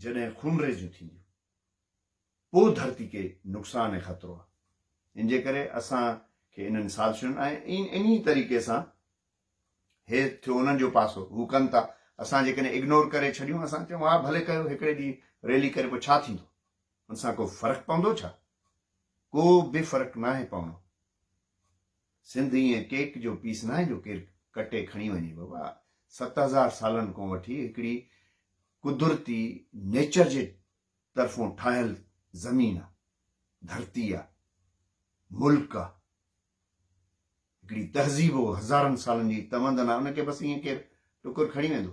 جڏهن خونريزيون ٿينديون پوء ڌرتي کي نقصان ۽ خطرو آهي ان جي ڪري اسان کي انهن سازشن ۽ انهي طريقي سان هي ٿيو انهن جو پاسو هو ڪن ٿا اسان جيڪڏهن اگنور ڪري ڇڏيون اسان چون ها ڀلي ڪيو هڪڙي ڏينهن ريلي ڪري پوء ڇا ٿيندو ان سان ڪو فرق پوندو ڇا ڪو به فرق ناهي پوڻو سنڌ ائين ڪيڪ جو پيس ناهي جو ڪير ڪٽي کڻي وڃي بابا ست هزار سالن ڪون وٺي هڪڙي قدرتي نيچر جي طرفون ٺاهيل زمين آ ڌرتي آ ملڪ آ هڪڙي تهذيب هزارن سالن جي تمدن آ ان کي بس ائين ڪير ٽڪر کڻي ويندو.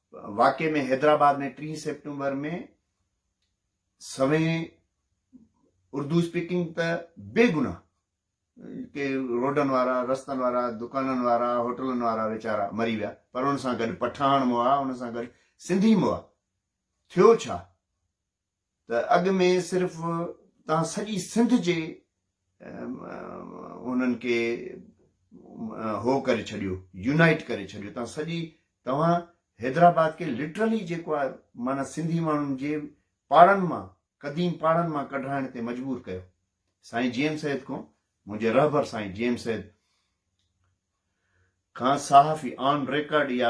واقعي ۾ حيدرآباد ۾ ٽي سيپٽمبر ۾ سوين اردو اسپيڪنگ ته بي گناهه ڪي روڊن وارا رستن وارا دڪانن وارا هوٽلن وارا ويچارا مري ويا پر ان سان گڏ پٺاڻ موا ان سان گڏ سنڌي موا ٿيو ڇا ته اڳ ۾ صرف تان سڄي سنڌ جي انهن کي هو ڪري ڇڏيو يونائيٽ ڪري ڇڏيو تان سڄي توهان حيدرآباد کي لٽرلي جيڪو آهي معنيٰ سنڌي ماڻهن جي پاڙن مان قديم پاڙن مان ڪڍرائڻ تي مجبور ڪيو سائين جي ايم سيد کان منهنجي رهبر سائين جي ايم سيد کان صحافي آن ريڪارڊ يا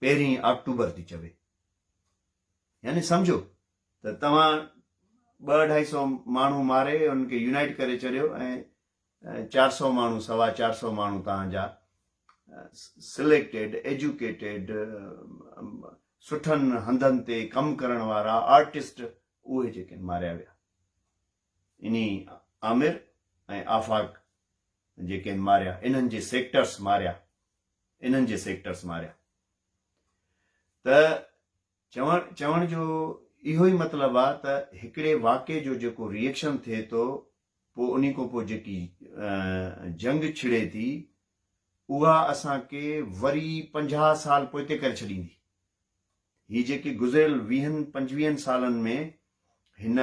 پهرين آڪٽوبر ٿي چوي. يعني سمجهو ته توهان ٻه اڍائي سئو ماڻهو ماري انهن کي يونائيٽ ڪري چڏيو ۽ چار سئو ماڻهو سوا چار سئو ماڻهو توهان جا سليڪٽيڊ ايجوڪيٽيڊ سٺن هنڌن تي ڪم ڪرڻ وارا آرٽسٽ اهي جيڪي ماريا ويا انهي آمر ۽ آفاق جي ڪين ماريا انهن جي سيڪٽرس ماريا انهن جي سيڪٽرس ماريا ته چوڻ چوڻ جو اهو ئي مطلب آ ته هڪڙي واقعي جو جيڪو ريئڪشن ٿئي ٿو پوء انهي کان پوء جيڪي جنگ ڇڙي ٿي اها اسان کي وري پنجاهه سال پوئتي ڪري ڇڏيندي هي جيڪي گذريل ويهن پنجويهن سالن ۾ هن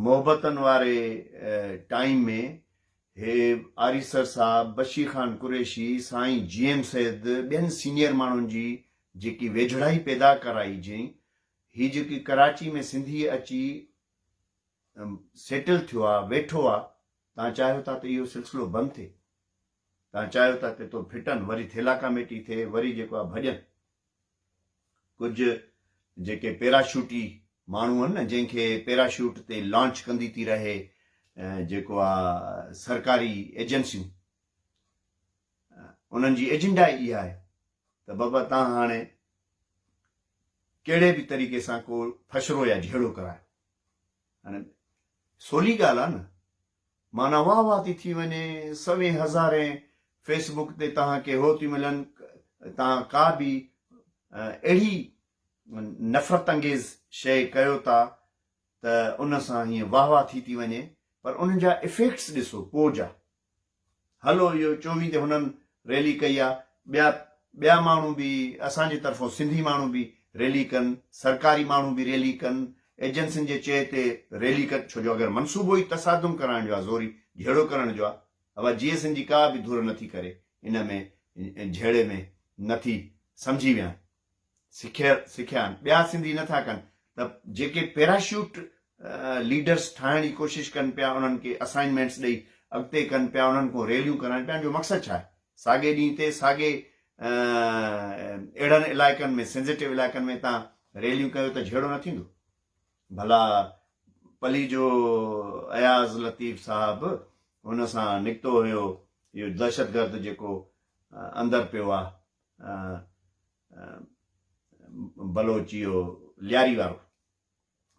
محبتن واري ٽائيم ۾ هي آريسر صاحب، بشي خان قريشي، سائين جي ايم سيد ٻين سينيئر ماڻهن جي جيڪي ويجهڙائي پيدا ڪرائي جئين، هي جيڪي ڪراچي ۾ سنڌي اچي سيٽل ٿيو آ، ويٺو آ، تان چاهيو ٿا ته اهو سلسلو بند ٿئي، تان چاهيو ٿا ته تو ڦٽن، وري ٿيلاڪاميٽي ٿئي، وري جيڪو آ ڀڄن. ڪجهه جيڪي پيراشوٽي ماڻهو آهن نه جنهن کي پيراشوٽ تي لانچ ڪندي ٿي رهي جيڪو آ سرڪاري ايجنسيون انهن جي ايجنڊا ئي اها آهي ته بابا تان هاڻي ڪهڙي به طريقي سان ڪو فشرو يا جهيڙو ڪرايو هاڻي سولي ڳالهه آهي نه معنيٰ واه واه ٿي ٿي وڃي، سوين هزارين فيس بوڪ تي توهان کي هو ٿيون ملن، توهان ڪا به اهڙي نفرت انگيز شيء ڪيو ٿا ته ان سان هيئن واه واه ٿي ٿي وڃي پر ان جا افيڪٽس ڏسو پوء جا. هلو اهو چوين تي هنن ريلي ڪئي آ ٻيا ٻيا ماڻهو به اسان جي طرفون سنڌي ماڻهو به ريلي ڪن سرڪاري ماڻهو به ريلي ڪن ايجنسين جي چئي تي ريلي ڪن ڇو جو اگر منصوبو ئي تصادم ڪرائڻ جو آ زوري جهيڙو ڪرڻ جو آ اها جي ايس اين جي ڪا به ڌر نٿي ڪري ان ۾ جهيڙي ۾ نٿي سمجهي ويهن سکيل سکيا آهن ٻيا سنڌي نٿا ڪن ته جيڪي پيراشوٽ ليڊرس ٺاهڻ جي ڪوشش ڪن پيا انهن کي اسائنمينٽس ڏئي اڳتي ڪن پيا انهن کان ريليون ڪرائن پيا ان جو مقصد ڇا آهي ساڳي ڏينهن تي ساڳي اهڙن علائقن ۾ سينزيٽو علائقن ۾ تان ريليون ڪيو ته جهيڙو نه ٿيندو ڀلا پلي جو اياز لطيف صاحب ان سان نڪتو هيو اهو دهشتگرد جيڪو اندر پيو آهي بلوچ اهو لياري وارو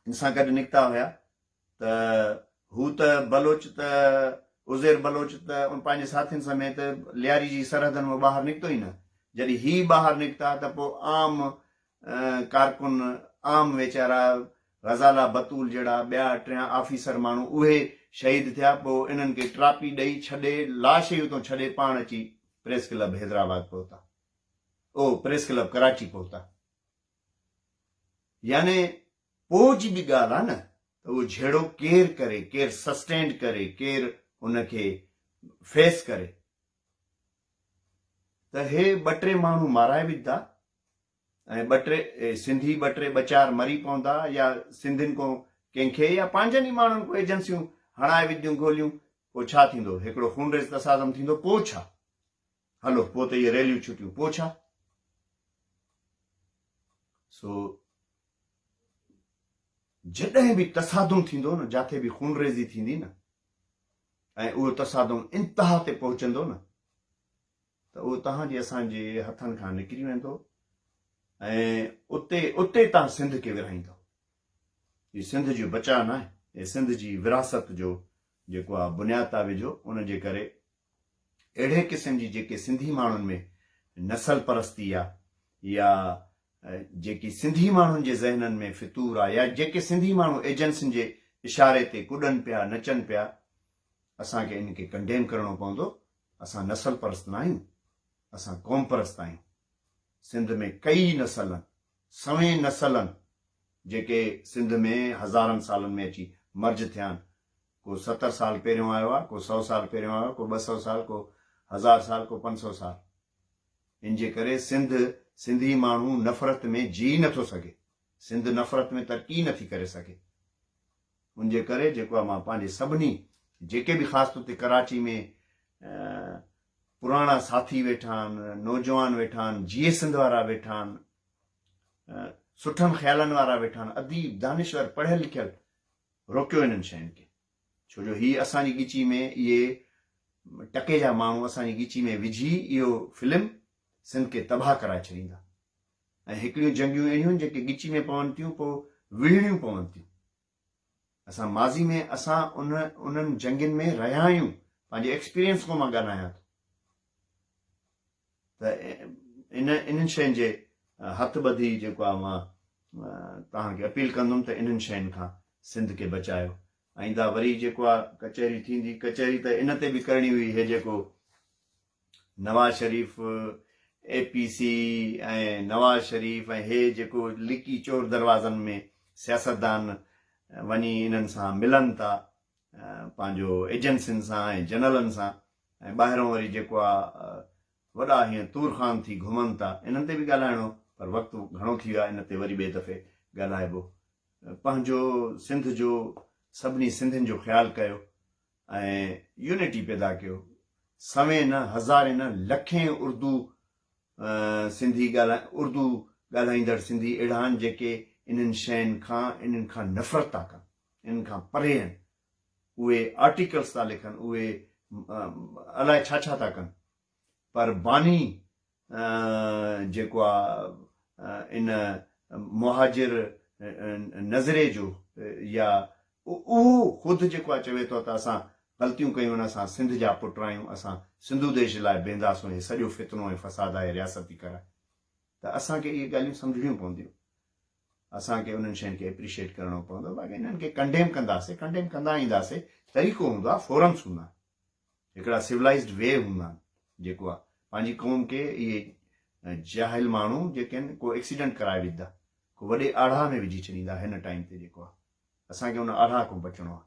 ان سان گڏ نڪتا هيا ته هو ته بلوچ ته عزير بلوچ ته ان پنهنجي ساٿين سميت لياري جي سرحدن مان ٻاهر نڪتو ئي نه جڏهن هي ٻاهر نڪتا ته پوء عام ڪارڪن عام ويچارا غزالا بتول جهڙا ٻيا ٽيان آفيسر ماڻهو اهي شهيد ٿيا پوء انهن کي ٽراپي ڏئي ڇڏي لاش ئي اتون ڇڏي پاڻ اچي پريس ڪلب حيدرآباد پهتا او پريس ڪلب ڪراچي پهتا يعني پوء جي به ڳالهه آ نه ته اهو جهيڙو ڪير ڪري ڪير سسٽينڊ ڪري ڪير ان کي فيس ڪري ته هي ٻه ٽي ماڻهو مارائي وجهدا ۽ ٻه ٽي سنڌي ٻه ٽي ٻه چار مري پوندا يا سنڌين ڪو ڪنهن کي يا پنهنجن ئي ماڻهن ڪو ايجنسيون هڻائي وجهديون گوليون پوء ڇا ٿيندو هڪڙو خونريز تصادم ٿيندو پوء ڇا هلو پوء ته اهي ريليون ڇٽيون پوء ڇا سو جڏهن به تصادم ٿيندو نه جاٿي به خونريزي ٿيندي نه ۽ اهو تصادم انتها تي پهچندو نه ته اهو توهان جي اسان جي هٿن کان نڪري ويندو ۽ اتي اتي توهان سنڌ کي ورهائيندو هي سنڌ جو بچاء ناهي هي سنڌ جي وراثت جو جيڪو آ بنياد آ وجهو ان جي ڪري اهڙي قسم جي جيڪي سنڌي ماڻهن ۾ نسل پرستي آ يا جيڪي سنڌي ماڻهن جي ذهنن ۾ فتور آ يا جيڪي سنڌي ماڻهو ايجنسين جي اشاري تي ڪڏن پيا نچن پيا اسان کي ان کي ڪنڊيم ڪرڻو پوندو اسان نسل پرست نه آهيون اسان قوم پرست آهيون سنڌ ۾ ڪئي نسلن سوين نسلن جيڪي سنڌ ۾ هزارن سالن ۾ اچي مرج ٿيا آهن ڪو ستر سال پهريون آيو آهي، ڪو سؤ سال پهريون آيو آهي، ڪو ٻه سؤ سال، ڪو هزار سال، ڪو پنج سؤ سال. ان جي ڪري سنڌ، سنڌي ماڻهو نفرت ۾ جيئي نٿو سگهي. سنڌ نفرت ۾ ترقي نٿي ڪري سگهي. ان جي ڪري جيڪو آهي مان پنهنجي سڀني جيڪي به خاص طور تي ڪراچي ۾ پراڻا ساٿي ويٺا آهن، نوجوان ويٺا آهن، جيئي سنڌ وارا ويٺا آهن، سٺن خيالن وارا ويٺا آهن، اديب، دانشور، پڙهيل لکيل، روڪيو انهن شين کي ڇو جو هي اسان جي ڳچي ۾ اهي ٽڪي جا ماڻهو اسان جي ڳچي ۾ وجهي اهو فلم سنڌ کي تباهه ڪرائي ڇڏيندا ۽ هڪڙيون جنگيون اهڙيون جيڪي ڳچي ۾ پون ٿيون پوء وڙهڻيون پون ٿيون اسان ماضي ۾ اسان ان انهن جنگين ۾ رهيا آهيون پنهنجي ايڪسپيرينس کان مان ڳالهايان ٿو ته ان انهن شين جي هٿ ٻڌي جيڪو آ مان توهان کي اپيل ڪندم ته انهن شين کان سنڌ کي بچايو ائيندا وري جيڪو آ ڪچهري ٿيندي ڪچهري ته ان تي به ڪرڻي هئي هي جيڪو Nawaz Sharif A P C ۽ Nawaz Sharif ۽ هي جيڪو لڪي چور دروازن ۾ سياستدان وڃي انهن سان ملن ٿا پنهنجو ايجنسين سان ۽ جنرلن سان ۽ ٻاهران وري جيڪو آ وڏا هيئن تور خان ٿي گهمن ٿا انهن تي به ڳالهائڻو هو پر وقت گهڻو ٿي ويو آ ان تي وري ٻئي دفعي ڳالهائبو پنهنجو سنڌ جو سڀني سنڌين جو خيال ڪيو ۽ يونٽي پيدا ڪيو سوين نه هزارين نه لکين اردو سنڌي ڳالهائي اردو ڳالهائيندڙ سنڌي اهڙا آهن جيڪي انهن شين کان انهن کان نفرت ٿا ڪن انهن کان پري آهن اهي آرٽيڪلس ٿا لکن اهي الائي ڇا ڇا ٿا ڪن پر باني جيڪو آ ان مهاجر نظري جو يا اهو خود جيڪو آ چوي ٿو ته اسان غلطيون ڪيون ان اسان سنڌ جا پٽ آهيون اسان سنڌو ديش لاء بيهنداسون هي سڄو فتنو ۽ فساد آهي رياستي ڪرائي ته اسان کي اهي ڳالهيون سمجهڻيون پونديون اسان کي انهن شين کي اپريشيئيٽ ڪرڻو پوندو باقي انهن کي ڪنڊيم ڪنداسي ڪنڊيم ڪندا اينداسي طريقو هوندو آهي فورمس هوندا آهن هڪڙا سولائزڊ وي هوندا آهن جيڪو آهي پنهنجي قوم کي اهي جاهل ماڻهو جيڪي آهن ڪو ايڪسيڊنٽ ڪرائي وجھدا ڪو وڏي آڙاهه ۾ وجھي ڇڏيندا هن ٽائيم تي جيڪو آهي اسان کي ان آڙاهه کان بچڻو آهي